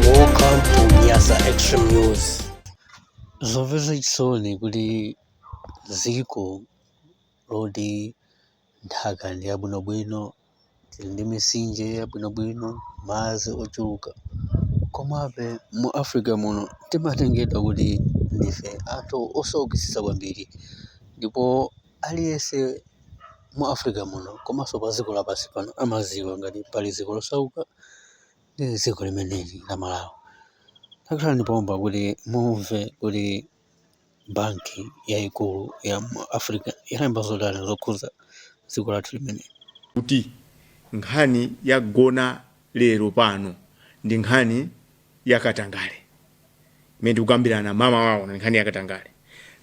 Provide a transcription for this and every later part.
Welcome to Nyasa Extreme News. Zomvetsa chisoni kuti dziko loti nthaka ndi yabwinobwino tili ndi mitsinje yabwinobwino, madzi ochuluka. Komabe mu Africa muno timatengedwa kuti ndife anthu osaukitsitsa kwambiri ndipo aliyense mu Africa muno komanso padziko lapansi pano amadziwa ngati pali dziko losauka ndi dziko limeneli la Malawi. Takhalani pompa kuti mumve kuti. banki yaikulu ya mu Africa yalemba zotani zokhudza dziko lathu limeneli? kuti nkhani yagona lero pano ndi nkhani ya katangale imene tikukambirana mamawa uno, ndi nkhani ya katangale.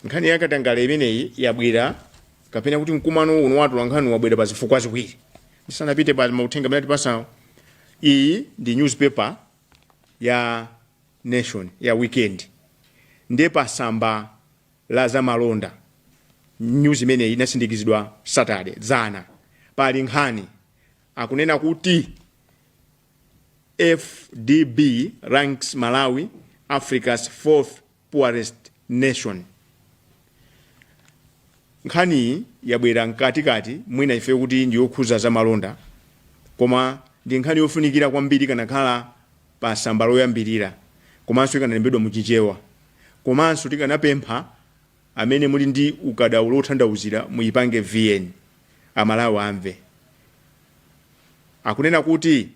Nkhani ya katangale imeneyi yabwera kapena kuti mkumano uno wa atolankhani wabwera pa zifukwa ziwiri. Ndisanapite pa mauthenga amene tipasawo, iyi ndi newspaper ya Nation ya weekend ndi pa samba la za malonda news imeneyi inasindikizidwa Saturday dzana pali nkhani akunena kuti AfDB ranks Malawi Africa's fourth poorest nation. Nkhaniyi yabwera mkati kati mwina chifukwa choti ndiyokhuza za malonda koma ndi nkhani yofunikira kwambiri ikanakhala pa samba loyambirira komanso ikanalembedwa mu Chichewa komanso tikanapempha amene muli ndi ukadaulo wothandauzira muyipange VN Amalawi amve. Akunena kuti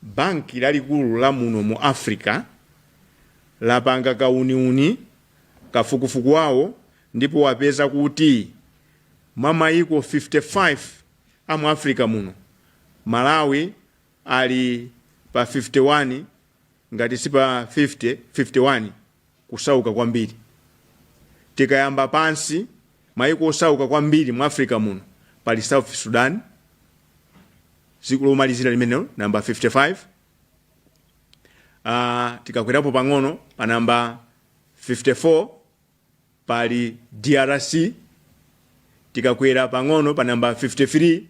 Banki lalikulu la muno mu Africa lapanga kauniuni, kafukufuku wawo, ndipo wapeza kuti mwa maiko 55 a mu Africa muno, Malawi ali pa 51 ngati si pa 50, 51. kusauka kwambiri. Tikayamba pansi, maiko osauka kwambiri mu Africa muno pali South Sudan, dziko lomalizira limenelo, namba 55. Ah, tikakwerapo pang'ono pa namba 54 pali DRC, tikakwera pang'ono pa namba 53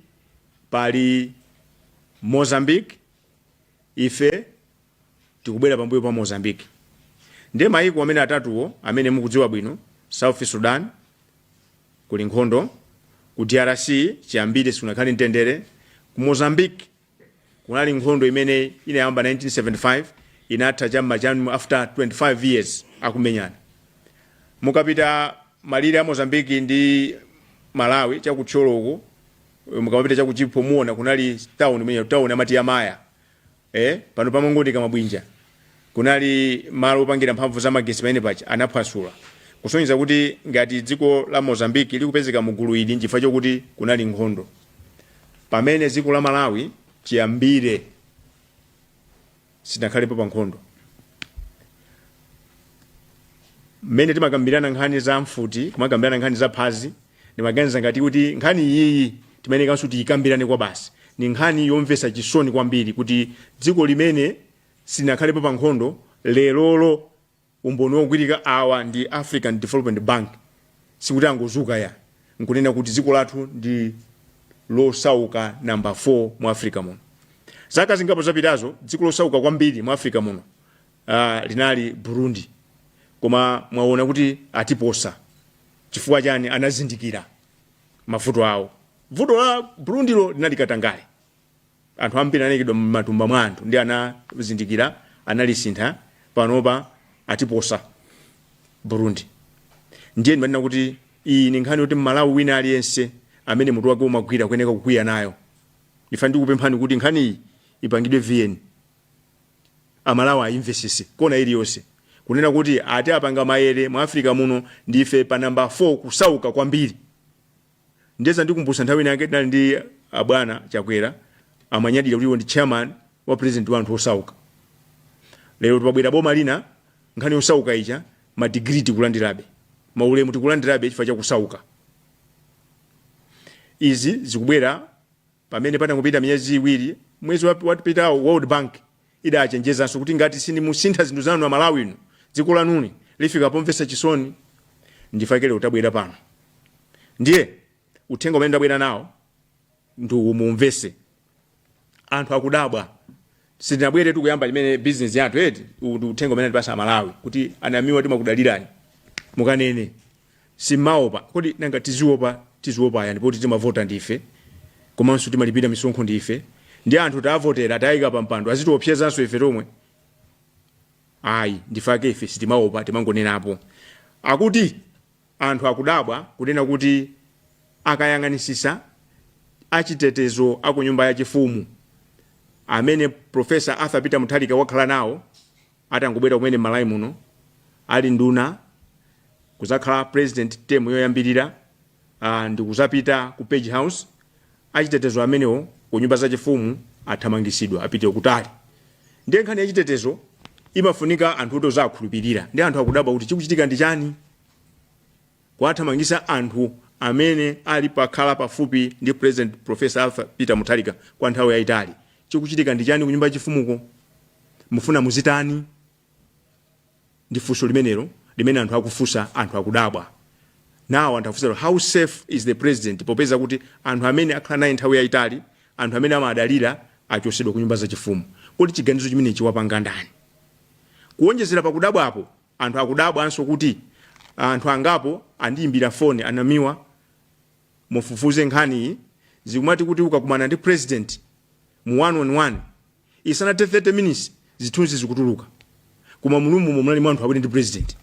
pali Mozambique, Ife tikubwera pambuyo pa Mozambique. Ndiye maiko amene atatuwo amene mukudziwa bwino, South Sudan, kuli nkhondo, ku DRC chiyambire sikunakhale mtendere, ku Mozambique kunali nkhondo imene inayamba 1975 inatha cha m'ma cha after 25 years akumenyana. Mukapita malire a Mozambique ndi Malawi cha ku Thyolo uko eh, mukamapita cha ku Chipo muona kunali town imene town amati ya Maya eh pano pamangooneka mabwinja kunali malo opangira mphamvu za magetsi amene paja anaphwasula kusonyeza kuti ngati dziko la Mozambique likupezeka mu gulu ili nchifukwa chokuti kunali nkhondo pamene dziko la Malawi chiyambire silinakhalepo pa nkhondo mmene timakambirana nkhani za mfuti kumakambirana nkhani za phazi ndimaganiza ngati kuti nkhani iyiyi timayenekanso tiyikambirane kwa basi ni nkhani yomvesa chisoni kwambiri kuti dziko limene silinakhalepo pa nkhondo lerolo umboni wogwirika awa ndi African Development Bank sikuti angozuka ayi nkunena kuti dziko lathu ndi losauka namba 4 mu Africa muno zaka zingapo zapitazo dziko losauka kwambiri mu Africa muno uh, linali Burundi koma mwaona kuti atiposa chifukwa chani anazindikira mavuto awo vuto la Burundilo linali katangale Anthu ambiri anaikidwa mmatumba mwa anthu ndiye anazindikira analisintha panopa atiposa Burundi ndiye ndimanena kuti iyi ndi nkhani yoti mmalawi wina aliyense amene mutu wake umagwira kuyeneka kukwiya nayo ndifake ndikupemphani kuti nkhaniyi ipangidwe vn amalawi ayimvesese kona iliyonse kunena kuti ati apanga mayere mu africa muno ndife pa namba 4 kusauka kwambiri Ndiye zandikumbutsa nthawi ina yake tinali ndi abwana Chakwera amanyadira kuti iwo ndi chairman wa president wa anthu osauka. Lero pabwera boma lina nkhani yosauka ija ma degree tikulandirabe. Maulemu tikulandirabe chifukwa cha kusauka. Izi zikubwera pamene patangopita miyezi iwiri mwezi wap- wapitawo World Bank Idachenjezanso kuti ngati simusintha zinthu zanu a Malawi inu, dziko lanuli lifika pomvetsa chisoni. Nchifukwa chake lero tabwera pano. Ndiye uthenga umene ndabwera nawo ndi uwu muumvetse. Anthu akudabwa. Sitinabweretu kuyamba limene bizinesi yathu eti. Uwu ndi uthenga umene atipatsa a Malawi kuti a Namiwa timakudalirani. Mukanene. simumaopa kodi nanga tiziopa tiziopa yani poti timavota ndife komanso timalipira misonkho ndife ndi anthu taavotera taika pa mpando azitiopsezanso ife tomwe ayi ndifake ife sitimaopa timangonenapo akuti anthu akudabwa kunena kuti akayang'anisisa achitetezo aku nyumba yachifumu amene profesa arthur peter mutharika wakhala nawo Atangobwera kumene m'Malawi muno ali nduna kuzakhala president term yoyambirira aah ndikuzapita ku page house achitetezo amenewo kunyumba zachifumu athamangisidwa apite kutali ndiye nkhani yachitetezo imafunika anthu oti uzawakhulupirira ndiye anthu akudabwa kuti chikuchitika ndichani? kuwathamangitsa anthu amene akhala akukhala pafupi ndi president professor Arthur Peter Mutharika kwa nthawi yaitali. Chikuchitika ndi chani ku nyumba ya chifumuko? Mufuna muzitani? Ndi funso limenelo limene anthu akufunsa, anthu akudabwa. Now anthu akufunsa kuti how safe is the president popeza kuti anthu amene akhala naye nthawi yaitali, anthu amene amawadalira achotsedwa ku nyumba za chifumu. Kodi chiganizo chimenechi wapanga ndani? Kuonjezera pa kudabwapo, Anthu akudabwanso kuti anthu angapo andiyimbira foni, a Namiwa mufufuze nkhaniyi, akumati kuti ukakumana ndi president mu one on one, isanathe 30 minutes zithunzi zikutuluka. Koma mu room mo munali anthu awiri ndi president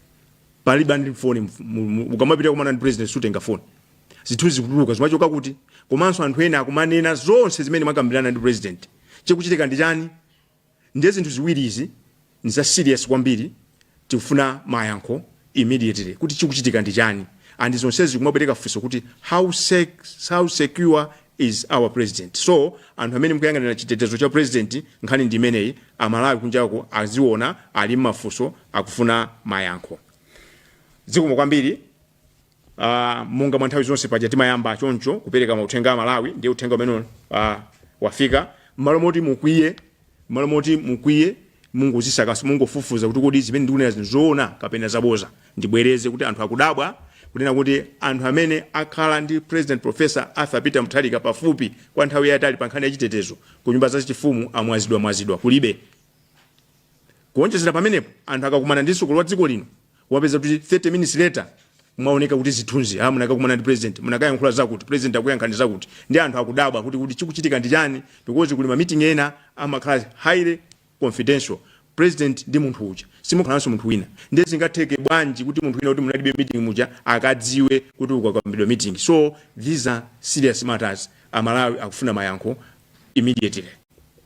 palibe anali ndi foni, ukamapita kukumana ndi president sutenga foni. Zithunzi zikutuluka zimachoka kuti? Komanso anthu ena akumanena zonse zimene mwakambirana ndi president. Chikuchitika ndi chani? Ndiye zinthu ziwiri izi ndi za serious kwambiri tikufuna mayankho immediately kuti chikuchitika ndi chani and zonsezi zikumapereka funso kuti how sec how secure is our president so anthu amene mukuyang'anira chitetezo cha president nkhani ndi imeneyi amalawi kunjako akuona ali ndi mafunso akufuna mayankho zikomo kwambiri uh, monga mwa nthawi zonse paja timayamba choncho kupereka mauthenga kwa amalawi ndiye uthenga umene uh, wafika mmalo moti mukwiye mmalo moti mukwiye mungozisakaso mungofufuza kuti kodi zimene ndikunenazi ndi zoona kapena zaboza ndibwereze kuti anthu akudabwa kunena kuti anthu amene akhala ndi president professor arthur peter mutharika pafupi kwa nthawi yayitali pa nkhani ya chitetezo ku nyumba zachifumu amwazidwa mwazidwa kulibe kuonjezera pamenepo anthu akakumana ndi mtsogoleri wa dziko lino kumapezeka kuti 30 minutes later mwaoneka muzithunzi ha ah, munakakumana ndi president munakayankhula zakuti president anakuyankhani zakuti ndiye anthu akudabwa kuti kuti chikuchitika ndi chani because kuli ma meeting ena amakhala highly confidential president ndi munthu uja simukhalanso munthu wina ndiye zingatheke bwanji kuti munthu wina oti munalibe mmeeting muja akadziwe zomwe zakambidwa mmeeting so these are serious matters amalawi akufuna mayankho immediately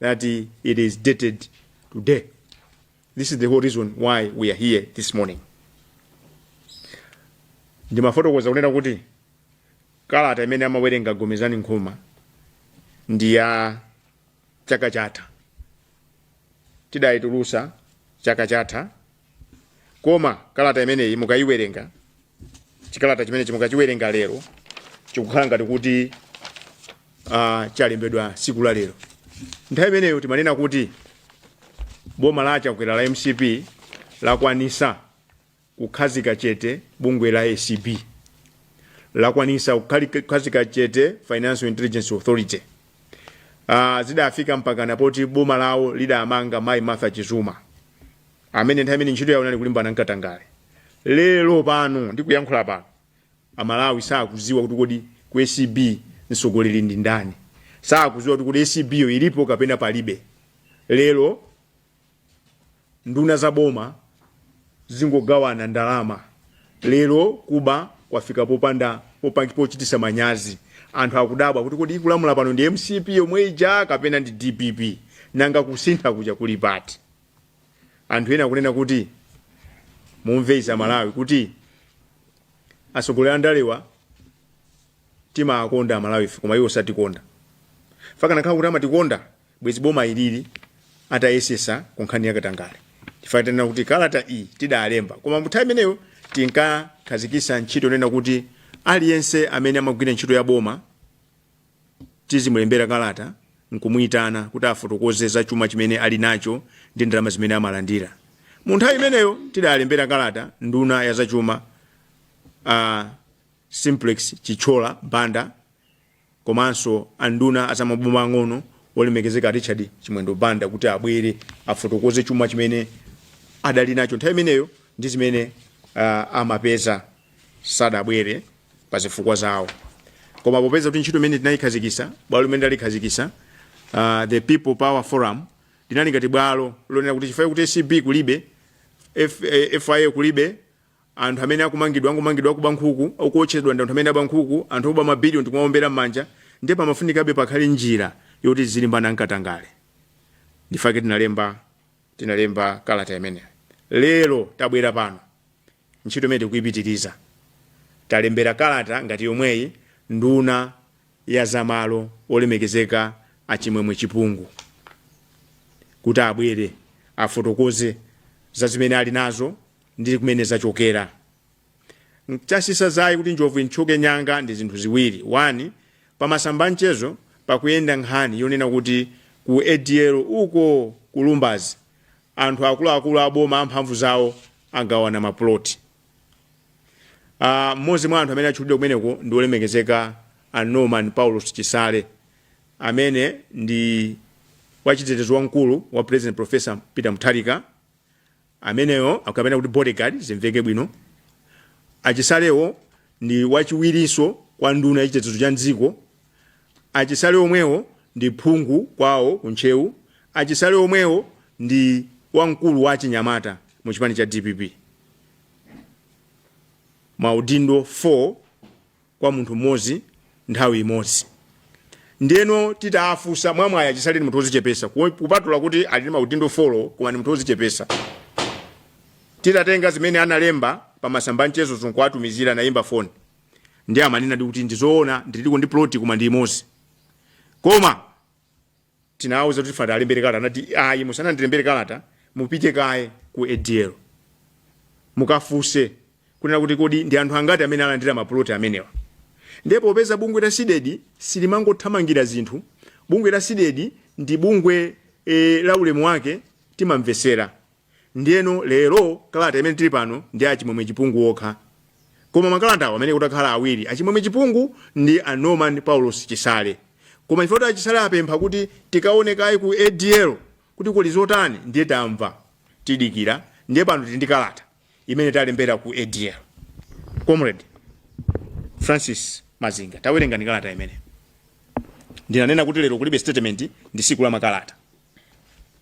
that it is dated today. This is the whole reason why we are here this morning. Ndimafotokoza kunena kuti kalata imene amawerenga Gomezani Nkhoma ndi ya chaka chatha. Tidayitulusa chaka chatha koma kalata imeneyi mukayiwerenga chikalata chimenechi mukachiwerenga lero chikukhala ngati kuti uh, chalembedwa siku la lero nthawi imeneyo timanena kuti boma la achakwera la mcp lakwanisa kukhazika chete bungwe la acb lakwanisa kukhali- kukhazika chete financial intelligence authority uh, zidafika mpakana poti boma lawo lidamanga mayi martha chizuma amene nthawi imene ntchito yawo inali kulimbana n'katangale lero pano ndikuyankhula pano amalawi sakudziwa kuti kodi ku acb mtsogoleri ndi ndani sakudziwa kuti kodi acb yo ilipo kapena palibe lero nduna za boma zikungogawana ndalama lero kuba kwafika popanda popangi pochititsa manyazi anthu akudabwa kuti kodi ikulamula pano ndi mcp yomwe ija kapena ndi dpp nanga kusintha kuja kuli pati anthu ena akunena kuti mumve izi amalawi kuti atsogoleri andalewa timawakonda amalawife koma iwo satikonda fakanakhala kuti amatikonda bwezi boma ilili litayesetsa ku nkhani yakatangale chifukwa tanena kuti kalata iyi tidalemba koma munthawi imeneyo tinkakhazikitsa ntchito yonena kuti aliyense amene amagwira ntchito ya boma Tizimulembera kalata n'kumuitana kuti afotokoze za chuma chimene ali nacho ndi ndalama zimene amalandira. Mu nthawi imeneyo tidalembera kalata nduna ya zachuma a Simplex Chithyola Banda komanso anduna a zamaboma ang'ono olemekezeka a Richard Chimwendo Banda kuti abwere afotokoze chuma chimene adali nacho nthawi imeneyo ndi zimene ah, amapeza sadabwere. pa zifukwa zawo koma popeza kuti ntchito imene tinayikhazikitsa bwalo limene tinalikhazikitsa uh, the people power forum linali ngati bwalo lonena kuti chifukwa kuti acb kulibe F, eh, fia kulibe anthu amene akumangidwa akungomangidwa akuba nkhuku akuotchedwa ndi anthu amene aba nkhuku anthu oba mabiliyoni tikumaombera m'manja ndiye pamafunikabe pakhale njira yoti tizilimbana n'katangale n'chifukwa chake tinalemba tinalemba kalata imeneyo lero tabwera pano Ntchito imeneyi tikuipitiriza. Talembera kalata ngati yomweyi nduna ya za malo, olemekezeka a Chimwemwe Chipungu, kuti abwere afotokoze za zimene ali nazo ndi kumene zachokera. Chatsitsa dzaye kuti njovu ithyoke mnyanga ndi zinthu ziwiri, 1 Pa masamba a mchezo pakuyenda nkhani yonena kuti ku ADL uko ku Lumbadzi Anthu akuluakulu a boma amphamvu zawo agawana mapuloti. a Mmodzi mwa anthu amene atchulidwa kumeneko ndi wolemekezeka a Norman Paulos Chisale, amene ndi wachitetezo wamkulu wa President Professor Peter Mutharika. Ameneyo kapena kuti bodyguard zimveke bwino. A Chisalewo ndi wachiwirinso kwa nduna yachitetezo cha m'dziko. A Chisale omwewo ndi phungu kwawo ku Ntcheu, a Chisale omwewo ndi wamkulu wa achinyamata mu chipani cha dpp, ma udindo 4 kwa munthu mmodzi nthawi imodzi. Ndiyeno titaafunsa, mwamwayi a Chisale ndi munthu wozichepesa kupatula kuti ali ndi ma udindo 4 koma ndi munthu wozichepesa. Titatenga zimene amalemba pa masamba a mchezozo nkuwatumizira anaimba foni. ndiye amanenadi kuti ndizoona ndiliko ndi plot koma ndi imodzi koma titawauza kuti tifuna tiwalembere kalata anati ayi musanandilembere kalata mupite kaye ku adl mukafuse kunena kuti kodi ndi anthu angati amene alandira mapuloti amenewa ndiye popeza bungwe la sidedi silimangothamangira zinthu bungwe la sidedi ndi bungwe e, la ulemu wake timamvesera Ndiyeno lero kalata imene tili pano ndi a Chimwemwe Chipungu okha. Koma makalatawa amayenera kukhala awiri, a Chimwemwe Chipungu ndi a Norman Paulos Chisale. Koma chifukwa choti a Chisale apempha kuti tikaone kaye ku ADL kuti kuli zotani ndiye tamva tidikira ndiye pano tili ndi kalata imene talembera ku ADL. Comrade Francis Mazinga, tawerengani kalata imeneyi. Ndinanena kuti lero kulibe statement ndi siku la makalata.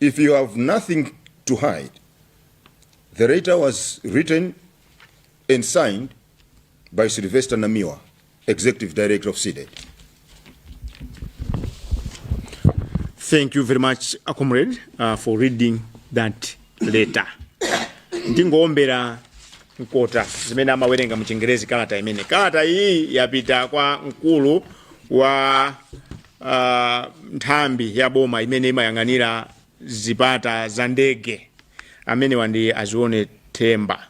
If you have nothing to hide, the letter was written and signed by Sylvester Namiwa, Executive Director of CDEDI. Thank you very much, uh, comrade, uh, for reading that letter. ndingowombera mkota zimene amawerenga mu chingerezi kalata imeneyi kalata iyi yapita kwa mkulu wa Uh, nthambi ya boma imene imayang'anira zipata za ndege amenewa ndi azione themba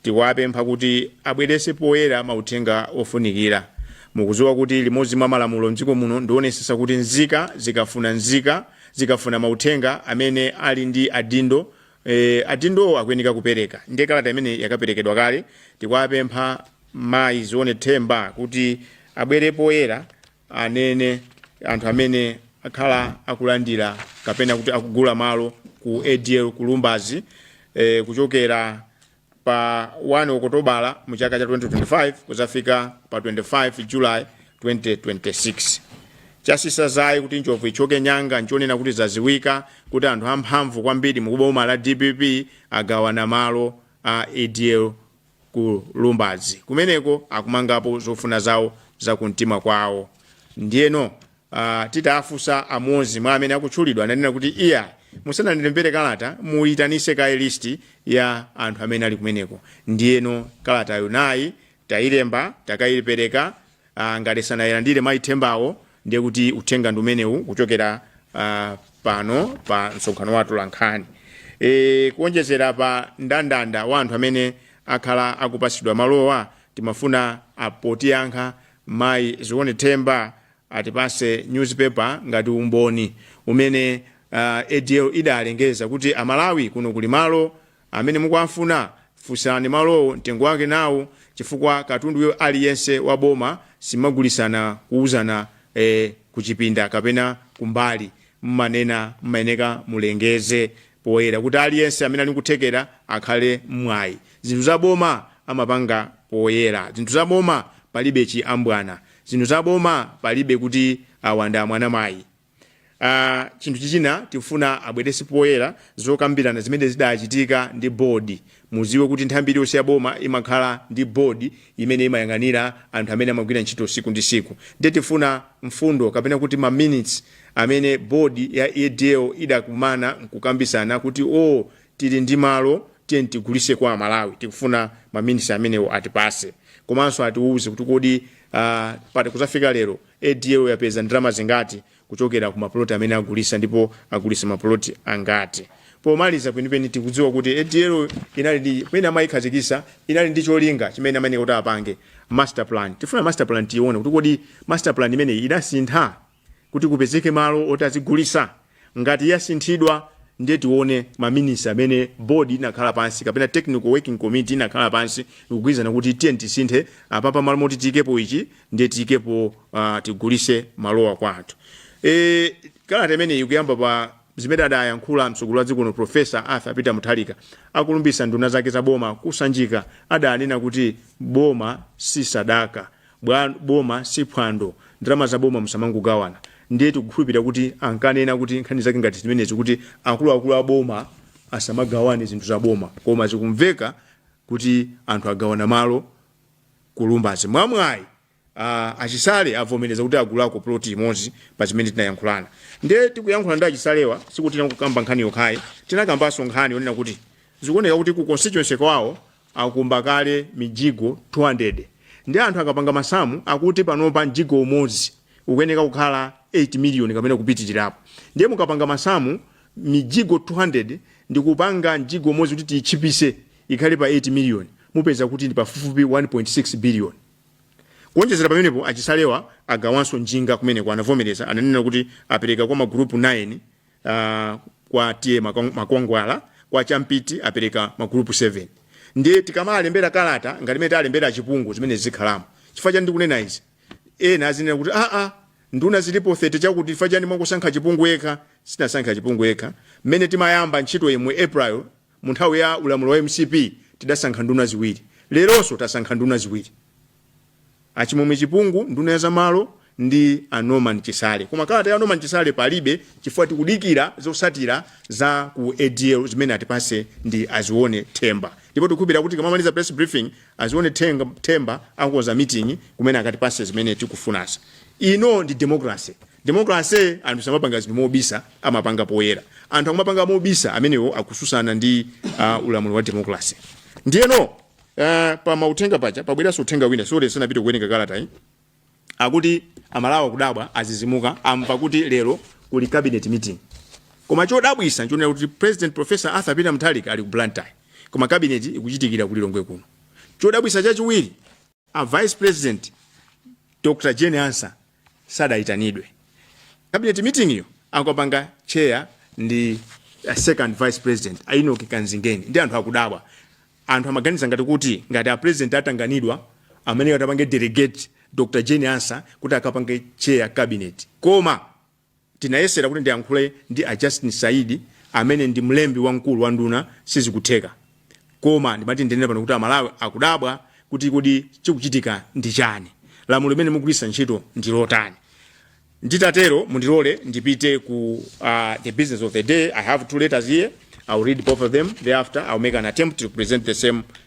tikuwapempha kuti abwerese poyera mauthenga ofunikira mukuziwa kuti limodzi mwa malamulo mdziko muno ndionesesa kuti nzika zikafuna nzika zikafuna mauthenga amene ali ndi adindo eh, adindowo akuyeneka kupereka ndiye kalata imeneyi yakaperekedwa kale tikuwapempha mayi zione themba kuti abwere poyera anene anthu amene akhala akulandira kapena kuti akugula malo ku adl ku lumbazi eh, kuchokera pa 1 okotobala mu chaka cha 2025 kuzafika pa 25 julayi 2026 chasisa zaye kuti njovu ichoke nyanga nchonena kuti zaziwika kuti anthu amphamvu kwambiri mu boma la dpp agawana malo a adl ku Lumbadzi. Kumeneko akumangapo zofuna zawo za kumtima kwawo. Ndiyeno ah, titaafunsa amodzi mwa amene akutchulidwa ananena kuti iyayi, musanandilembere kalata muitanise kaye listi ya anthu amene ali kumeneko. Ndiyeno kalatayo nayi, tailemba, takaipereka, ah, ngati sanailandire mayi Thembawo ndiye kuti uthenga ndi umenewu kuchokera ah, pano pa msonkhano wa atolankhani e, kuonjezera pa ndandanda wa anthu amene akhala akupatsidwa malowa timafuna apotiyankha mayi Zione Themba atipase newspaper ngati umboni umene uh, ADL idalengeza kuti Amalawi kuno kuli malo Amene mukuwafuna funsani malowo mtengo wake nawo chifukwa katundu aliyense wa boma simmagulisana kuuzana ee kuchipinda kapena kumbali mmanena mmayeneka mulengeze poyera kuti aliyense amene ali nkuthekera akhale nmwayi zinthu za boma amapanga poyera zinthu za boma palibe chi ambwana zinthu za boma palibe kuti awa ndi amwana mayi Ah, chinthu chichina tifuna abwerese poyera zokambirana zimene zidachitika ndi board muziwe kuti nthambi iliyonse ya boma imakhala ndi board imene imayang'anira anthu amene amagwira ntchito siku ndi siku ndiye tifuna mfundo kapena kuti ma minutes amene board ya ADL idakumana nkukambisana kuti o tili ndi malo tiye tigulise kwa Amalawi tikufuna ma minutes amenewo atipase komanso atiwuze kuti kodi ah, pati kuzafika lero ADL yapeza ndalama zingati kuchokera ku mapuloti amene agulisa ndipo agulisa mapuloti angati. Pomaliza kwenikweni tikudziwa kuti ADL inali ndi, pamene amayikhazikisa, inali ndi cholinga chimene amayeneka kuti apange, master plan. Tifuna master plan tiyiwone kuti kodi master plan imeneyi idasintha kuti kupezeke malo oti azigulisa? Ngati yasinthidwa ndiye tione ma minutes amene board inakhala pansi kapena technical working committee inakhala pansi ndikugwirizana kuti tiyeni tisinthe apapa mmalo moti tiyikepo ichi ndiye tiyikepo uh, tigulise malowa kwa anthu. E, kalata imeneyi ikuyamba pa zimene adayankhula mtsogoleri wa dziko lino Professor Arthur Peter Mutharika akulumbisa nduna zake za boma ku Sanjika adanena kuti boma si sadaka bwa boma si phwando ndalama za boma musamangogawana ndiye tikukhulupirira kuti ankanena kuti nkhani zake ngati zimenezi kuti akuluakulu a boma asamagawane zinthu za boma koma zikumveka kuti anthu agawana malo ku Lumbadzi mwamwayi uh, a Chisale avomereza kuti agulako ploti imodzi pa zimene tinayankhulana ndiye tikuyankhula ndi a Chisalewa sikuti tinakukamba nkhani yokhayi tinakambanso nkhani yonena kuti zikuoneka kuti ku constituency kwawo akumba kale mijigo 200 nde anthu akapanga masamu akuti panopa mjigo umodzi ukuyeneka kukhala 8 million kapena kupitilirapo ndiye mukapanga masamu mijigo 200 ndikupanga mjigo umodzi kuti tiyitchipise ikhale pa 8 million mupeza kuti ndi pafupifupi 1.6 billion kuonjezera pamenepo a Chisalewa agawanso njinga kumeneko anavomereza ananena kuti apereka kwa magulupu 9 uh, kwa TA makwangwala kwa champiti apereka magulupu 7 ndiye tikamalembera kalata ngati mene alembera chipungu zimene zikhalamo chifukwa chani ndikunena izi ena adzinena kuti aa nduna zilipo 30 chakuti chifukwa chani mwangosankha chipungu yekha sinasankha chipungu yekha mmene timayamba ntchito yemwe april Mu nthawi ya ulamuliro wa mcp tidasankha nduna ziwiri, leronso tasankha nduna ziwiri, a Chimwemwe Chipungu nduna ya za malo ndi a Norman Chisale. Koma kalata ya Norman Chisale palibe chifukwa tikudikira zotsatira za ku ACB zimene atipatse ndi a Zione Ntaba. Ndipo tikukhulupirira kuti tikamamaliza press briefing, a Zione Ntaba akonza meeting kumene akatipatse zimene tikufunazi. Ino ndi democracy. Democracy anthu samapanga zinthu mobisa amapanga poyera. Anthu akumapanga mobisa amenewo akususana ndi uh, ulamuliro wa democracy. Ndiyeno uh, pa mauthenga paja pabweranso uthenga wina sorry tisanapite kuwerenga kalata yi akuti amalawi akudabwa adzidzimuka amva kuti lero kuli cabinet meeting koma chodabwisa nchonena kuti president professor arthur peter mutharika ali ku blantyre koma cabinet ikuchitikira ku lilongwe kuno chodabwisa chachiwiri a vice president dr jane ansah sadayitanidwe cabinet meeting yo akapanga chair ndi a second vice president a enock kanzingeni ndiye anthu akudabwa anthu amaganiza ngati kuti ngati a president atanganidwa amene atapange delegate dr jane ansah kuti akapange chair cabinet koma Tinayesera kuti ndiyankhule ndi a Justin Saidi amene ndi mlembi wamkulu wa nduna sizikutheka. Koma ndimati ndinene pano kuti Amalawi akudabwa kuti kodi chikuchitika ndi chani? Lamulo limene mukugwiritsa ntchito ndi lotani? Nditatero mundilole ndipite ku uh, the business of the day. I have two letters here. I'll read both of them. Thereafter, I'll make an attempt to present the same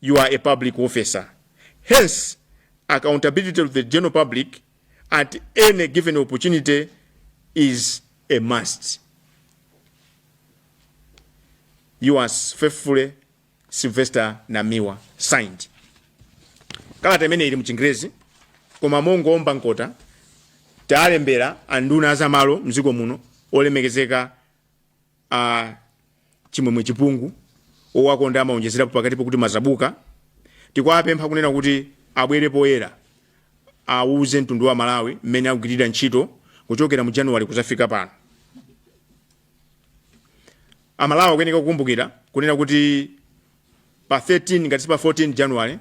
you are a public officer hence accountability to the general public at any given opportunity is a must yours faithfully sylvester namiwa signed kalata imene ili mchingerezi koma mongoomba nkota talembera anduna azamalo mdziko muno olemekezeka a chimwemwe chipungu owakonda amaonjezerapo pakatipo kuti mazabuka tikuwapempha kunena kuti abwere poyera awuze mtundu wa malawi mmene akugwirira ntchito kuchokera mu januwale kuzafika pano amalawi akuyeneka kukumbukira kunena kuti pa 13 ngati si pa 14 januwale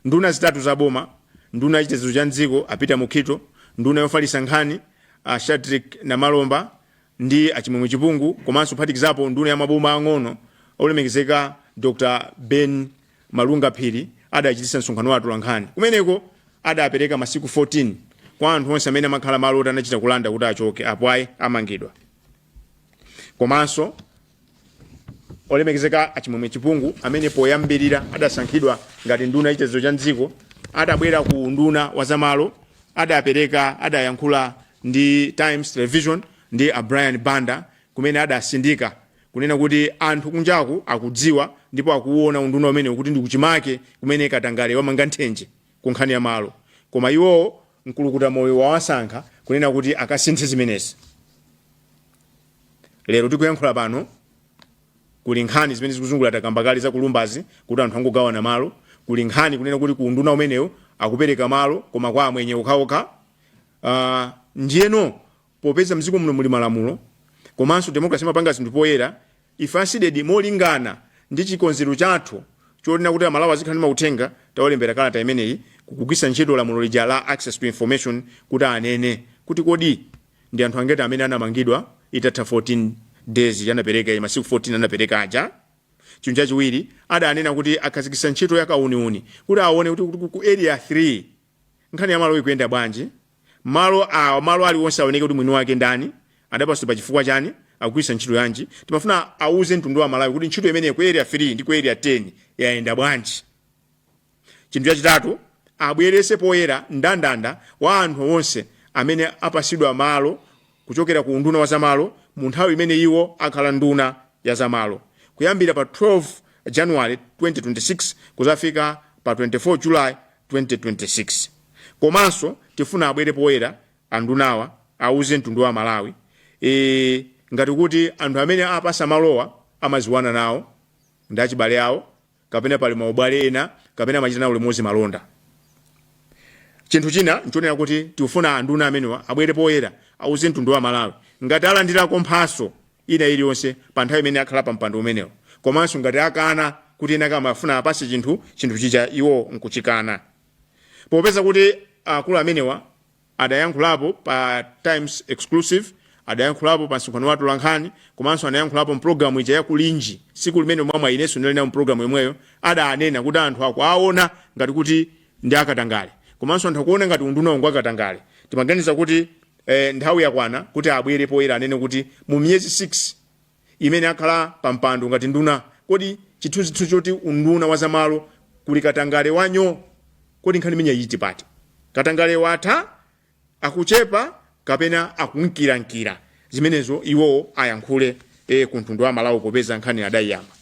nduna zitatu za boma nduna yachitetezo cha mdziko a peter mukhito nduna yofalitsa nkhani a shadric namalomba ndi a Chimwemwe Chipungu komanso kuphatikizapo nduna ya maboma ang'ono olemekezeka Dr Ben Malunga Phiri adachititsa msonkhano wa atolankhani kumeneko adapereka masiku 14 kwa anthu onse amene amakhala malo oti anachita kulanda kuti achoke apo ayi amangidwa komanso olemekezeka a chimwemwe chipungu amene poyambirira adasankhidwa ngati nduna yachitetezo cha mdziko adabwera ku unduna wa zamalo adapereka adayankhula ndi times television ndi a brian banda kumene adatsindika kunena kuti anthu kunjaku akudziwa ndipo akuwuona unduna umenewu kuti ndi kuchimake kumene katangale wamanga nthenje ku nkhani ya malo koma iwowo mkulukuta moyo wawasankha kunena kuti akasinthe zimenezi lero tikuyankhula pano kuli nkhani zimene zikuzungula takamba kale za kulumbazi kuti anthu angogawana malo kuli nkhani kunena kuti ku unduna umenewu akupereka malo koma kwa amwenye okhaokha uh, ndiyeno popeza mziko muno muli malamulo komanso democracy imapanga zinthu poyera ife a CDEDI molingana ndi chikonzero chathu chonena kuti amalawi azikhala ndi mauthenga tawalembera kalata imeneyi kugwiritsa ntchito lamulo lija la access to information kuti anene kuti kodi Ndi anthu angati amene anamangidwa itatha 14 days anapereka masiku 14 anapereka aja? Chinthu chachiwiri adanena kuti akhazikitsa ntchito ya kauniuni kuti aone kuti kuti ku area 3 nkhani ya malo ikuyenda bwanji? Malo awa malo aliwonse aoneke kuti mwini wake ndani, adapatsidwa pa chifukwa chani, akugwiritsa ntchito yanji? Timafuna auze mtundu wa Amalawi kuti ntchito imeneyo ku area 3 ndi ku area 10 yayenda bwanji? chinthu chachitatu abwerese poyera ndandanda wa anthu onse amene apasidwa malo kuchokera ku unduna wa zamalo mu nthawi imene iwo akhala nduna ya zamalo kuyambira pa 12 january 2026 kuzafika pa 24 july 2026 komanso tifuna abwere poyera andunawa auze mtundu wa amalawi e, ngati kuti anthu amene apasa malowa amaziwana nawo ndi achibale awo kapena pali maubale ena kapena amachita nawo limodzi malonda. Chinthu china nchonena kuti tikufuna anduna amenewa abwere poyera auze mtundu wa Malawi ngati alandirako mphatso ina iliyonse pa nthawi imene akhala pa mpando umenewo komanso ngati akana kuti ena ake amafuna awapatse chinthu chinthu chija iwo nkuchikana. Popeza kuti akulu amenewa. adayankhulapo pa Times Exclusive, adayankhulapo pa msonkhano wa atolankhani komanso anayankhulapo mpulogalamu ija ya Kulinji tsiku limene mwa mwayi inenso ndinali nawo mpulogalamu yomweyo, adanena kuti anthu akuwaona ngati kuti ndi akatangale komanso anthu akuona ngati undunawu ngwakatangale. Timaganiza kuti eh, nthawi yakwana kuti abwere poyera anene kuti mu miyezi 6 imene akhala pampando ngati nduna kodi chithunzithu choti unduna wa zamalo kuli katangale wa nyoo kodi nkhani imeneyi ili pati katangale watha akuchepa kapena akunkirankira zimenezo iwowo ayankhule e, kumtundu wa malawi popeza nkhani adayiyamba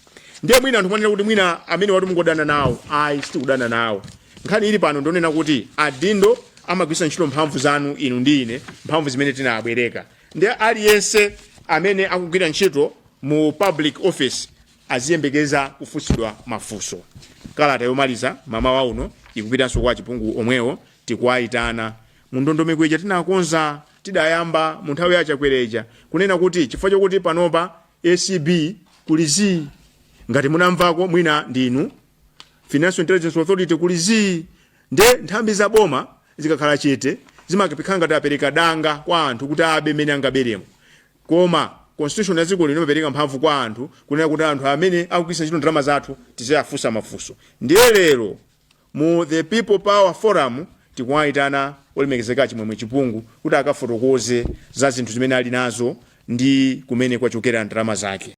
ndiye mwina anthu mwanena kuti mwina amenewatu mungodana nawo ayi sitikudana nawo nkhani ili pano ndi yonena kuti adindo amagwiritsa ntchito mphamvu zanu inu ndi ine mphamvu zimene tinabwereka Nde aliyense amene akugwira ntchito mu public office aziyembekeza kufunsidwa mafunso. Kalata yomaliza mamawa uno ikupitanso kwa a Chipungu omwewo. Tikuwaitana mundondomeko ija tinakonza, tidayamba mu nthawi ya Chakwera ija kunena kuti chifukwa chokuti panopa acb kuli zii, ngati munamvako mwina ndi inu. financial intelligence authority kuli zii nde nthambi za boma zikakhala chete zimakhala ngati apereka danga kwa anthu kuti abe mmene angaberemo koma constitution ya dziko lino imapereka mphamvu kwa anthu kunena kuti anthu amene akugwiritsa ntchito ndalama zathu tiziwafunsa mafunso ndiye lero mu the people power forum tikuwayitana olemekezeka a Chimwemwe Chipungu kuti akafotokoze za zinthu zimene ali nazo ndi kumene kwachokera ndalama zake